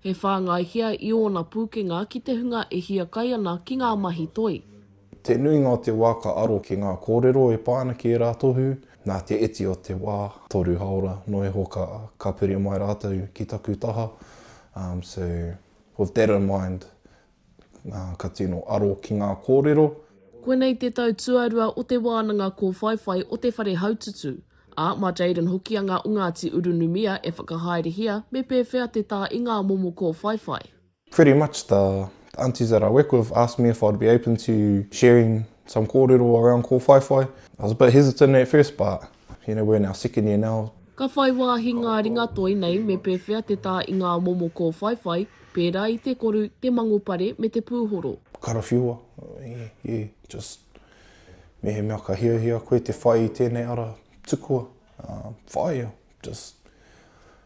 He whāngaihia i ōna pūkenga ki te hunga e hiakai ana ki ngā mahi toi. Te nuinga o te wā ka aro ki ngā kōrero e pā ana ki ērā tohu, nā te iti o te wā, toru hāora noa iho ka ka piri mai rātou ki taku taha, so with that in mind Ka tino aro ki ngā kōrero. Koinei te tau tuarua o te wānanga kōwhaiwhai o te whare haututu, ā, mā Jayden Hokianga o Ngāti Urunumia e whakahaerehia me pēwhea te tā i ngā momo kōwhaiwhai. Pretty much the aunties that I work with asked me if I'd be open to sharing some kōrero around kōwhaiwhai. I was a bit hesitant at first but You know, we're in our second year now. Ka whai wāhi ngā ringatoi nei me pēwhea te tā i ngā momo kōwhaiwhai, pērā i te koru, te mangopare me te pūhoro. Karawhiua, i just mehemea ka hiahia koe te whai i tēnei ara tukua, whāia, just.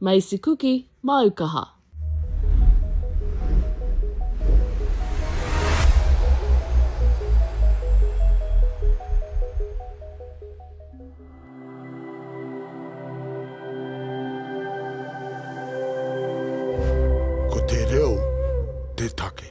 Maisi kuki, māu kaha. Ko te reo te take.